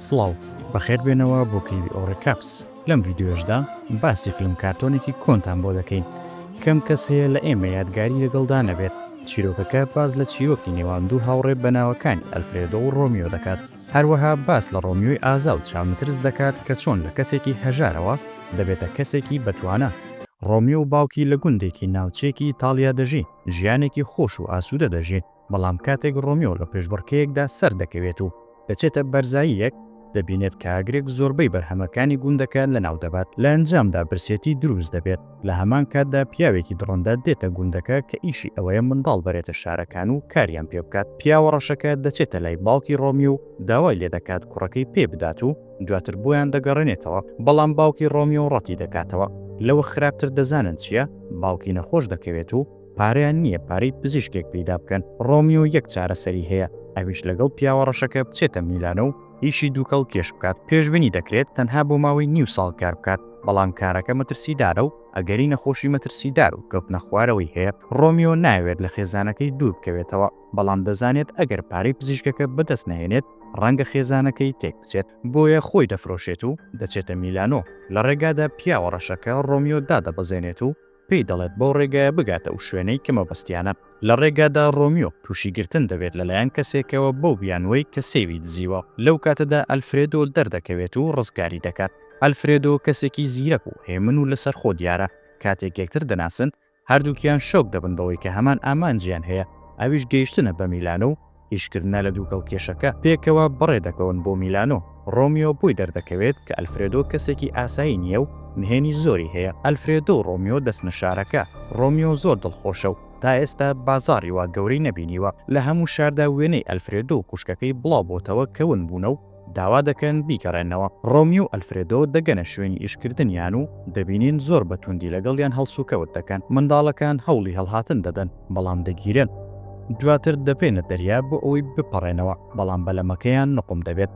سڵاو، بەخێربێنەوە بۆ کلیلی ئۆڕێ کاپس، لەم ڤیدیۆیەشدا باسی فلم کارتۆنێکی کۆنتان بۆ دەکەین، کەم کەس هەیە لە ئێمە یادگاری لەگەڵدا نەبێت، چیرۆکەکە باس لە چیرۆکی نێوان دوو هاوڕێ بەناوەکانی ئەلفرێدۆ و ڕۆمیۆ دەکات، هەروەها باس لە ڕۆمیۆی ئازا و چاونەترس دەکات کە چۆن لە کەسێکی هەژارەوە دەبێتە کەسێکی بەتوانا، ڕۆمیۆ و باوکی لە گوندێکی ناوچەیەکی ئیتاڵیا دەژین، ژیانێکی خۆش و ئاسوودە دەژین، بەڵام کاتێک ڕۆمیۆ لە پێشبڕکێیەکدا سەردەکەوێت و دەچێتە بەرزاییەک، دەبینێت کە ئاگرێک زۆربەی بەرهەمەکانی گوندەکە لەناودەبات، لە ئەنجامدا برسێتی دروست دەبێت، لە هەمان کاتدا پیاوێکی دڕندە دێتە گوندەکە کە ئیشی ئەوەیە منداڵ بەرێتە شارەکان و کاریان پێبکات، پیاوە ڕەشەکە دەچێتە لای باوکی ڕۆمیۆ و داوای لێدەکات کوڕەکەی پێبدات و دواتر بۆیان دەگەڕێنێتەوە، بەڵام باوکی ڕۆمیۆ ڕەتیدەکاتەوە، لەوە خراپتر دەزانن چییە؟ باوکی نەخۆش دەکەوێت و. پارەیان نییە پارەی پزیشکێک پەیدا بکەن، ڕۆمیۆ یەک چارەسەری هەیە، ئەویش لەگەڵ پیاوە ڕەشەکە بچێتە میلانۆ و ئیشی دووکەڵ کێش بکات، پێشبینی دەکرێت تەنها بۆ ماوەی نیو ساڵ کار بکات، بەڵام کارەکە مەترسیدارە و ئەگەری نەخۆشی مەترسیدار و کەوتنە خوارەوەی هەیە، ڕۆمیۆ نایەوێت لە خێزانەکەی دوور بکەوێتەوە، بەڵام دەزانێت ئەگەر پارەی پزیشکەکە بەدەست نەهێنێت ڕەنگە خێزانەکەی تێک بچێت، بۆیە خۆی دەفرۆشێت و دەچێتە میلانۆ، لە ڕێگادا پیاوە ڕەشەکە ڕۆمیۆ دادەبەزێنێت و پێی دەڵێت بەو ڕێگایە بگاتە ئەو شوێنەی کە مەبەستیانە. لە ڕێگادا ڕۆمیۆ تووشی گرتن دەبێت لەلایەن کەسێکەوە بەو بیانووەی کە سێوی دزیوە، لەو کاتەدا ئەلفرێدۆ دەردەکەوێت و ڕزگاری دەکات. ئەلفرێدۆ کەسێکی زیرەک و هێمن و لەسەرخۆ دیارە، کاتێک یەکتر دەناسن، هەردووکیان شۆک دەبن بەوەی کە هەمان ئامانجیان هەیە، ئەویش گەیشتنە بە میلانۆ و، ئیشکردنە لە دووگەڵ کێشەکە، پێکەوە بەڕێ دەکەون بۆ میلانۆ. ڕۆمیۆ بۆی دەردەکەوێت کە ئەلفرێدۆ کەسێکی ئاسایی نییە و نهێنی زۆری هەیە. ئەلفرێدۆ و ڕۆمیۆ دەچنە شارەکە. ڕۆمیۆ زۆر دڵخۆشە و تا ئێستا بازاڕی وا گەورەی نەبینیوە. لە هەموو شاردا وێنەی ئەلفرێدۆ و خوشکەکەی بڵاو بۆتەوە کە ون بوونە و، داوا دەکەن بیگەڕێنەوە. ڕۆمیۆ و ئەلفرێدۆ دەگەنە شوێنی ئیشکردنیان و دەبینین زۆر بە توندی لەگەڵیان هەڵسوکەوت دەکەن. منداڵەکان هەوڵی هەڵهاتن دەدەن، بەڵام دەگیرێن. دواتر دەبەینە دەریا بۆ ئەوەی بپەڕێنەوە، بەڵام بەلەمەکەیان نوقم دەبێت.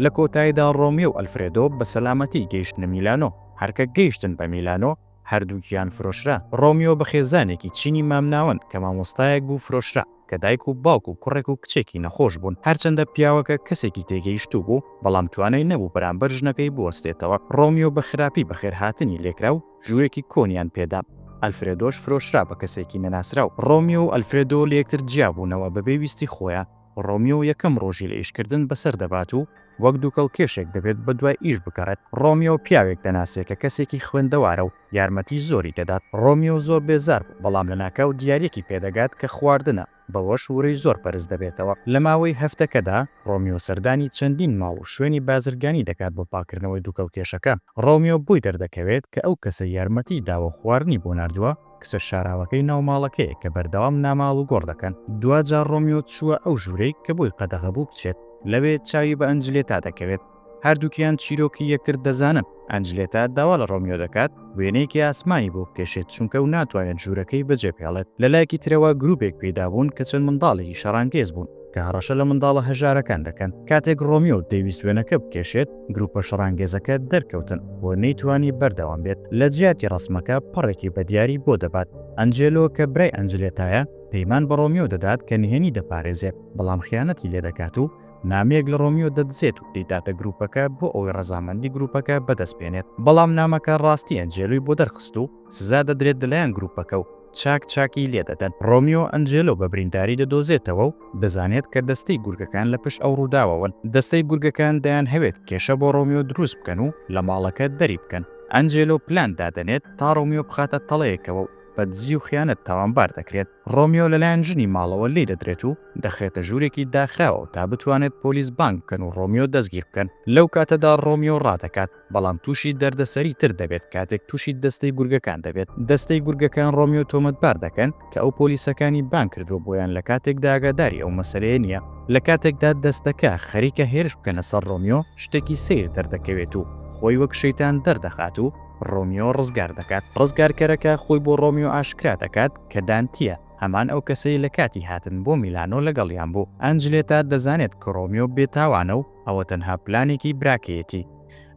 لە کۆتاییدا ڕۆمیۆ و ئەلفرێدۆ بە سەلامەتی گەیشتنە میلانۆ. هەر کە گەیشتن بە میلانۆ، هەردووکیان فرۆشرا. ڕۆمیۆ بە خێزانێکی چینی مامناوەند کە مامۆستایەک بوو فرۆشرا، کە دایک و باوک و کوڕێک و کچێکی نەخۆش بوون. هەرچەندە پیاوەکە کەسێکی تێگەیشتوو بوو، بەڵام توانای نەبوو بەرامبەر ژنەکەی بوەستێتەوە. ڕۆمیۆ بە خراپی بەخێرهاتنی لێکرا و ژوورێکی کۆنیان پێ دا. ئەلفرێدۆش فرۆشرا بە کەسێکی نەناسراو. ڕۆمیۆ و ئەلفرێدۆ لە یەکتر جیابوونەوە بەبێ ویستی خۆیان. ڕۆمیۆ یەکەم ڕۆژی لە ئیشکردن بەسەر دەبات و وەک دووکەڵکێشێک دەبێت بەدوای ئیش بگەڕێت. ڕۆمیۆ پیاوێک دەناسێ کە کەسێکی خوێندەوارە و یارمەتی زۆری دەدات. ڕۆمیۆ زۆر بێزار بوو، بەڵام لەناکاو دیاریەکی پێدەگات کە خواردنە، بەوەش ورەی زۆر بەرز دەبێتەوە. لە ماوەی هەفتەکەدا، ڕۆمیۆ سەردانی چەندین ماڵ و شوێنی بازرگانی دەکات بۆ پاککردنەوەی دووکەڵکێشەکە. ڕۆمیۆ بۆی دەردەکەوێت کە ئەو کەسەی یارمەتیی داوە و خواردنی بۆ ناردووە، کچە شاراوەکەی ناو ماڵەکەیە کە بەردەوام ناماڵ و گۆڕ دەکەن، دواجار ڕۆمیۆ چووە ئەو ژوورەی کە بۆی قەدەغە بوو بچێت، لەوێ چاوی بە ئەنجلێتا دەکەوێت، هەردووکیان چیرۆکی یەکتر دەزانن، ئەنجلێتا داوا لە ڕۆمیۆ دەکات وێنەیەکی ئاسمانی بۆ بکێشێت چونکە و ناتوانێت ژوورەکەی بەجێبهێڵێت، لەلایەکی ترەوە گرووپێک پەیدا بوون کە چەند منداڵێکی شەڕانگێز بوون، کە هەڕەشە لە منداڵە هەژارەکان دەکەن. کاتێک ڕۆمیۆ دەیویست وێنەکە بکێشێت، گروپە شەڕانگێزەکە دەرکەوتن و نەیتوانی بەردەوام بێت. لە جیاتی ڕەسمەکە پەڕێکی بە دیاری بۆ دەبات. ئەنجێلۆ کە برای ئەنجلێتایە، پەیمان بە ڕۆمیۆ دەدات کە نهێنی دەپارێزێت، بەڵام خیانەتی لێ دەکات و نامەیەک لە ڕۆمیۆ دەدزێت و دەیداتە گروپەکە بۆ ئەوەی ڕەزامەندی گروپەکە بەدەست بێنێت. بەڵام نامەکە ڕاستی ئەنجێلۆی بۆ دەرخست و، سزا دەدرێت لەلایەن گروپەکە و چاک چاکی لێدەدەن. ڕۆمیۆ ئەنجێلۆ بە برینداری دەدۆزێتەوە و دەزانێت کە دەستەی گورگەکان لە پشت ئەو ڕووداوەوەن. دەستەی گورگەکان دەیانهەوێت کێشە بۆ ڕۆمیۆ دروست بکەن و لە ماڵەکە دەری بکەن. ئەنجێلۆ پلان دادەنێت تا ڕۆمیۆ بخاتە تەڵەیەکەوە و بە دزی و خیانەت تاوانبار دەکرێت. ڕۆمیۆ لەلایەن ژنی ماڵەوە لێیدەدرێت و دەخرێتە ژوورێکی داخراوە تا بتوانێت پۆلیس بانگ بکەن و ڕۆمیۆ دەستگیر بکەن. لەو کاتەدا ڕۆمیۆ ڕادەکات. بەڵام تووشی دەردەسەری تر دەبێت کاتێک تووشی دەستەی گورگەکان دەبێت، دەستەی گورگەکان ڕۆمیۆ تۆمەتبار دەکەن کە ئەو پۆلیسەکانی بانگ کردووە بۆیان لە کاتێکدا ئاگاداری ئەو مەسەلەیە نییە، لە کاتێکدا دەستەکە خەریکە هێرش بکەنە سەر ڕۆمیۆ شتێکی سەیر دەردەکەوێت و خۆی وەک شەیتان دەردەخات و ڕۆمیۆ ڕزگار دەکات، ڕزگارکەرەکە خۆی بۆ ڕۆمیۆ ئاشکرا دەکات کە دانتییە، هەمان ئەو کەسەی لە کاتی هاتن بۆ میلانۆ لەگەڵیان بوو، ئەنجلێتا دەزانێت کە ڕۆمیۆ بێتاوانە و. ئەوە تەنها پلانێکی براکەیەتی.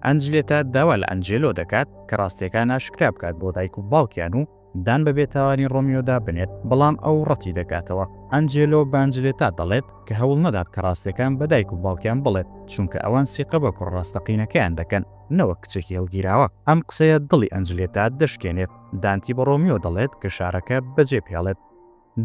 ئەنجلێتا داوا لە ئەنجێلۆ دەکات کە ڕاستییەکان ئاشکرا بکات بۆ دایک و باوکیان و دان بە بێتاوانی ڕۆمیۆدا بنێت، بەڵام ئەو ڕەتی دەکاتەوە. ئەنجێلۆ بە ئەنجلێتا دەڵێت کە هەوڵ نەدات کە ڕاستییەکان بە دایک و باوکیان بڵێت، چونکە ئەوان سیقە بە کوڕە ڕاستەقینەکەیان دەکەن، نەوەک کچێکی هەڵگیراوە. ئەم قسەیە دڵی ئەنجلێتا دەشکێنێت. دانتی بە ڕۆمیۆ دەڵێت کە شارەکە بەجێبهێڵێت.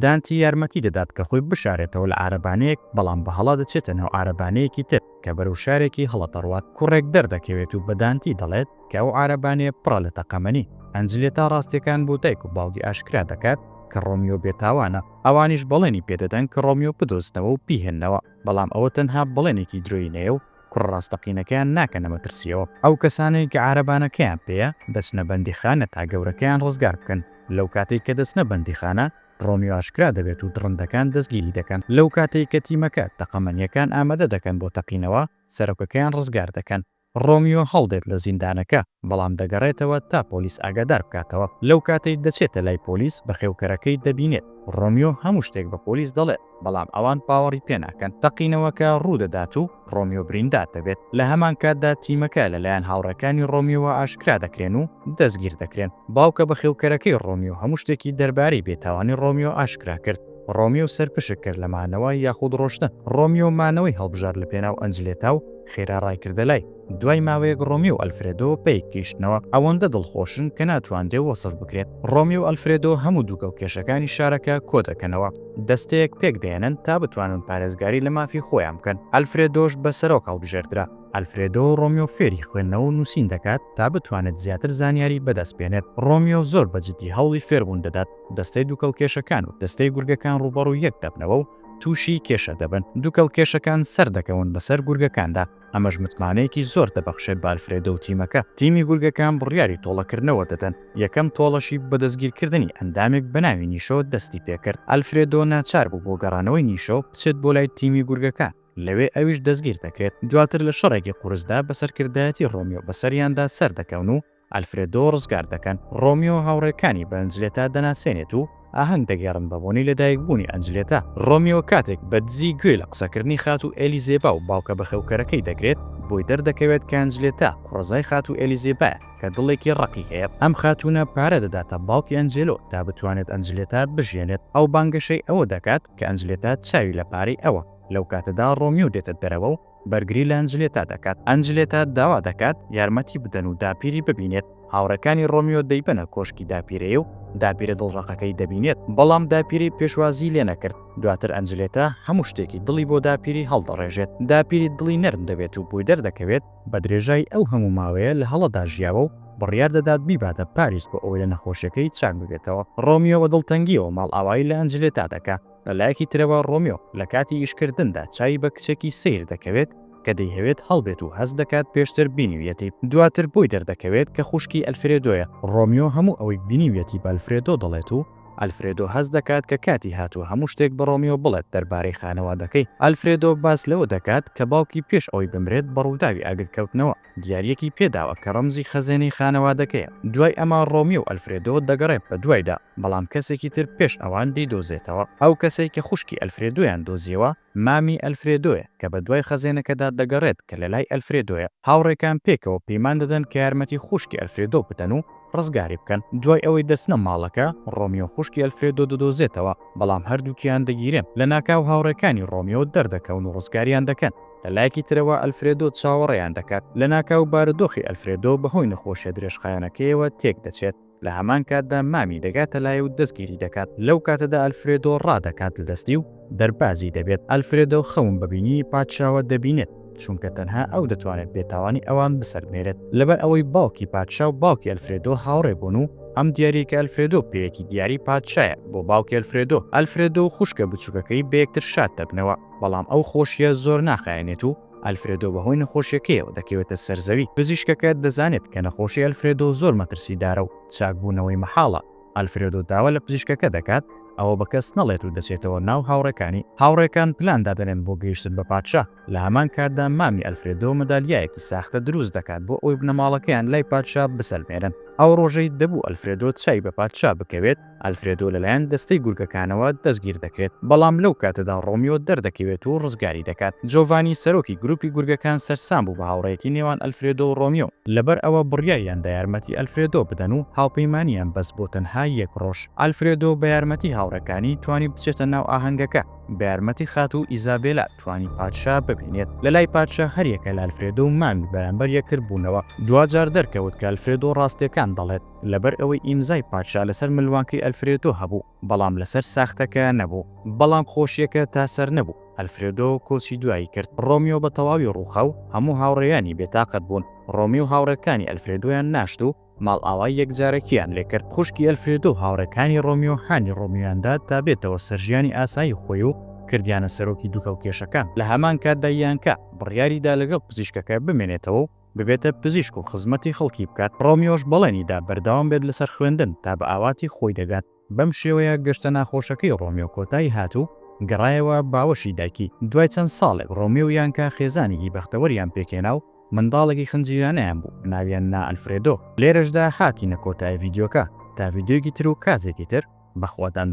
دانتی یارمەتی دەدات کە خۆی بشارێتەوە لە عارەبانەیەک، بەڵام بە هەڵە دەچێتە ناو عارەبانەیەکی تر کە بەرەو شارێکی هەڵە دەڕوات. کوڕێک دەردەکەوێت و بە دانتی دەڵێت کە ئەو عارەبانەیە پڕە لە تەقەمەنی. ئەنجلێتا ڕاستییەکان بۆ دایک و باوکی ئاشکرا دەکات کە ڕۆمیۆ بێتاوانە، ئەوانیش بەڵێنی پێدەدەن کە ڕۆمیۆ بدۆزنەوە و بیهێننەوە، بەڵام ئەوە تەنها بەڵێنێکی درۆینەیە و کوڕە ڕاستەقینەکەیان ناکەنە مەترسیەوە ئەو کەسانەی کە عارەبانەکەیان پێیە دەچنە بەندیخانە تا گەورەکەیان ڕزگار بکەن لەوکاتەی کە دەچنە بەندیخانە ڕۆمیۆ ئاشکرا دەبێت و دڕندەکان دەستگیری دەکەن لەوکاتەی کە تیمەکە تەقەمەنیەکان ئامادە دەکەن بۆ تەقینەوە سەرۆکەکەیان ڕزگار دەکەن ڕۆمیۆ هەڵدێت لە زیندانەکە بەڵام دەگەڕێتەوە تا پۆلیس ئاگادار بکاتەوە لەوکاتەی دەچێتە لای پۆلیس بەخێوکەرەکەی دەبینێت ڕۆمیۆ هەموو شتێک بە پۆلیس دەڵێت. بەڵام ئەوان باوەڕی پێ ناکەن. تەقینەوەکە ڕوو دەدات و ڕۆمیۆ بریندار دەبێت. لە هەمان کاتدا تیمەکە لەلایەن هاوڕێکانی ڕۆمیۆوە ئاشکرا دەکرێن و دەستگیر دەکرێن. باوکە بەخێوکەرەکەی ڕۆمیۆ هەموو شتێکی دەربارەی بێتاوانی ڕۆمیۆ ئاشکرا کرد. ڕۆمیۆ سەرپشک کرد لە مانەوە یاخود ڕۆشتن. ڕۆمیۆ مانەوەی هەڵبژارد لەپێناو ئەنجلێتا و خێرا ڕایکردە لای. دوای ماوەیەک ڕۆمی و ئەلفرێدۆ پێک گەیشتنەوە، ئەوەندە دڵخۆشن کە ناتواندرێ وەسف بکرێت. ڕۆمی و ئەلفرێدۆ هەموو دووکەڵ کێشەکانی شارەکە کۆ دەکەنەوە، دەستەیەک پێک دەهێنن تا بتوانن پارێزگاری لە مافی خۆیان بکەن. ئەلفرێدۆش بە سەرۆک هەڵبژێردرا. ئەلفرێدۆ ڕۆمیۆ فێری خوێندنەوە و نووسین دەکات تا بتوانێت زیاتر زانیاری بە دەست بێنێت. ڕۆمیۆ زۆر بە جددی هەوڵی فێربوون دەدات. دەستەی دووکەڵ کێشەکان و دەستەی گورگەکان ڕووبەڕووی یەک دەبنەوە و تووشی کێشە دەبن. دووکەڵ کێشەکان سەر دەکەون بەسەر گورگەکاندا. ئەمەش متمانەیەکی زۆر دەبەخشێت بە ئەلفرێدۆ و تیمەکە. تیمی گورگەکان بڕیاری تۆڵەکردنەوە دەدەن، یەکەم تۆڵەشی بە دەستگیرکردنی ئەندامێک بە ناوی نیشۆ دەستی پێکرد. ئەلفرێدۆ ناچار بوو بۆ گەڕانەوەی نیشۆ بچێت بۆ لای تیمی گورگەکان، لەوێ ئەویش دەستگیر دەکرێت. دواتر لە شەڕێکی قورسدا بە سەرکردایەتی ڕۆمیۆ بەسەریاندا سەردەکەون و، ئەلفرێدۆ ڕزگار دەکەن، ڕۆمیۆ هاوڕێکانی بە ئەنجلێتا دەناسێنێت و ئاهەنگ دەگێڕن بە بۆنەی لەدایکبوونی ئەنجلێتا، ڕۆمیۆ کاتێک بە دزی گوێ لە قسەکردنی خاتوو ئێلیزێبا و باوکە بەخێوکەرەکەی دەگرێت، بۆی دەردەکەوێت کە ئەنجلێتا کوڕەزای خاتوو ئێلیزێبایە کە دڵێکی ڕەقی هەیە، ئەم خاتوونە پارە دەداتە باوکی ئەنجێلۆ تا بتوانێت ئەنجلێتا بژیێنێت، ئەو بانگەشەی ئەوە دەکات کە ئەنجلێتا چاوی لە پارەی ئەوە، لەو کاتەدا ڕۆمیۆ دێتە دەرەوە و بەرگری لە ئەنجلێتا دەکات. ئەنجلێتا داوا دەکات یارمەتی بدەن و داپیری ببینێت. هاوڕێکانی ڕۆمیۆ دەیبەنە کۆشکی داپیرەی و داپیرە دڵڕەقەکەی دەبینێت. بەڵام داپیرەی پێشوازیی لێ نەکرد. دواتر ئەنجلێتا هەموو شتێکی دڵی بۆ داپیری هەڵدەڕێژێت. داپیری دڵی نەرم دەبێت و بۆی دەردەکەوێت، بە درێژای ئەو هەموو ماوەیە لە هەڵەدا ژیاوە و بڕیار دەدات بیباتە پاریس بۆ ئەوەی لە نەخۆشیەکەی چاک ببێتەوە. ڕۆمیۆ بە دڵتەنگییەوە ماڵئاوایی لە ئەنجلێتا دەکا. لە لایەکی ترەوە ڕۆمیۆ لە کاتی ئیشکردندا چاوی بە کچێکی سەیر دەکەوێت کە دەیهەوێت هەڵبێت و هەست دەکات پێشتر بینیویەتی، دواتر بۆی دەردەکەوێت کە خوشکی ئەلفرێدۆیە. ڕۆمیۆ هەموو ئەوەی بینیویەتی بە ئەلفرێدۆ دەڵێت و ئەلفرێدۆ هەست دەکات کە کاتی هاتووە هەموو شتێک بە ڕۆمیۆ بڵێت دەربارەی خانەوادەکەی. ئەلفرێدۆ باس لەوە دەکات کە باوکی پێش ئەوەی بمرێت بە ڕووداوی ئاگرکەوتنەوە. دیارییەکی پێ داوە کە ڕەمزی خەزێنەی خانەوادەکەیە. دوای ئەمە ڕۆمیۆ و ئەلفرێدۆ دەگەڕێت بە دوایدا، بەڵام کەسێکی تر پێش ئەوان دەیدۆزێتەوە. ئەو کەسەی کە خوشکی ئەلفرێدۆیان دۆزییەوە، مامی ئەلفرێدۆیە کە بە دوای خەزێنەکەدا دەگەڕێت کە لەلای ئەلفرێدۆیە. هاوڕێکان پێکەوە پەیمان دەدەن کە یارمەتی خوشکی ئەلفرێدۆ بدەن و ڕزگاری بکەن. دوای ئەوەی دەچنە ماڵەکە، ڕۆمیۆ خوشکی ئەلفرێدۆ دەدۆزێتەوە، بەڵام هەردووکیان دەگیرێن. لەناکاو هاوڕێکانی ڕۆمیۆ دەردەکەون و ڕزگاریان دەکەن. لە لایەکی ترەوە ئەلفرێدۆ چاوەڕێیان دەکات، لەناکاو بارودۆخی ئەلفرێدۆ بەهۆی نەخۆشیە درێژخایەنەکەیەوە تێک دەچێت، لە هەمان کاتدا مامی دەگاتە لای و دەستگیری دەکات، لەو کاتەدا ئەلفرێدۆ ڕادەکات لە دەستی و دەربازی دەبێت، ئەلفرێدۆ خەون بە بینینی پادشاوە دەبینێت، چونکە تەنها ئەو دەتوانێت بێتاوانی ئەوان بسەلمێنێت، لەبەر ئەوەی باوکی پادشا و باوکی ئەلفرێدۆ هاوڕێ بوون و ئەم دیاریە کە ئەلفرێدۆ پێیەتی دیاری پادشایە بۆ باوکی ئەلفرێدۆ، ئەلفرێدۆ و خوشکە بچوکەکەی بەیەکتر شاد دەبنەوە. بەڵام ئەو خۆشییە زۆر ناخایەنێت و ئەلفرێدۆ بەهۆی نەخۆشییەکەیەوە دەکەوێتە سەر زەوی. پزیشکەکە دەزانێت کە نەخۆشی ئەلفرێدۆ زۆر مەترسیدارە و چاکبوونەوەی مەحاڵە. ئەلفرێدۆ داوا لە پزیشکەکە دەکات ئەوە بە کەس نەڵێت و دەچێتەوە ناو هاوڕێکانی. هاوڕێکان پلان دادەنێن بۆ گەیشتن بە پادشا، لە هەمان کاتدا مامی ئەلفرێدۆ مەدالیایەکی ساختە دروست دەکات بۆ ئەوەی بنەماڵەکەیان لای پادشا بسەلمێنن. ئەو ڕۆژەی دەبوو ئەلفرێدۆ چاوی بە پادشا بکەوێت، ئالفرێدۆ لەلایەن دەستەی گورگەکانەوە دەستگیر دەکرێت، بەڵام لەو کاتەدا ڕۆمیۆ دەردەکەوێت و ڕزگاری دەکات. جۆڤانی سەرۆکی گروپی گورگەکان سەرسام بوو بە هاوڕێیەتی نێوان ئەلفرێدۆ و ڕۆمیۆ، لەبەر ئەوە بڕیاریان دا یارمەتی ئەلفرێدۆ بدەن و هاوپەیمانییان بەست بۆ تەنها یەک ڕۆژ. ئالفرێدۆ بە یارمەتی هاوڕێکانی توانی بچێتە ناو ئاهەنگەکە، بە یارمەتی خاتوو ئیزابێلا توانی پادشا ببینێت. لەلای پادشا هەریەکە لە ئەلفرێدۆ و مامی بەرامبەر یەکتر بوونەوە، دواجار دەرکەوت کە ئەلفرێدۆ ڕاستییەکان دەڵێت. لەبەر ئەوەی ئیمزای پادشا لەسەر ملوانکەی ئەلفرێدۆ هەبوو، بەڵام لەسەر ساختەکە نەبوو. بەڵام خۆشییەکە تا سەر نەبوو، ئەلفرێدۆ کۆچی دوایی کرد. ڕۆمیۆ بە تەواوی ڕووخا و هەموو هاوڕێیانی بێتاقەت بوون. ڕۆمی و هاوڕێکانی ئەلفرێدۆیان ناشت و ماڵئاوای یەکجارەکییان لێ کرد. خوشکی ئەلفرێدۆ و هاوڕێکانی ڕۆمیۆ هانی ڕۆمیۆیان دا تا بێتەوە سەر ژیانی ئاسایی خۆی و کردیانە سەرۆکی دووکەڵکێشەکان. لە هەمان کاتدا یانکا بڕیاری دا لەگەڵ پزیشکەکە بمێنێتەوە و، ببێتە پزیشک و خزمەتی خەڵکی بکات، ڕۆمیۆش بەڵێنی دا بەردەوام بێت لەسەر خوێندن تا بە ئاواتی خۆی دەگات، بەم شێوەیە گەشتە ناخۆشەکەی ڕۆمیۆ کۆتایی هات و گەڕایەوە باوەشی دایکی، دوای چەند ساڵێک ڕۆمیۆ و یانکا خێزانێکی بەختەوەریان پێکهێنا و منداڵێکی خنجیرانەیان بوو ناویان نا ئەلفرێدۆ. لێرەشدا هاتینە کۆتایی ڤیدیۆکە تا ڤیدیۆیەکی تر و کاتێکی تر بەخواتان.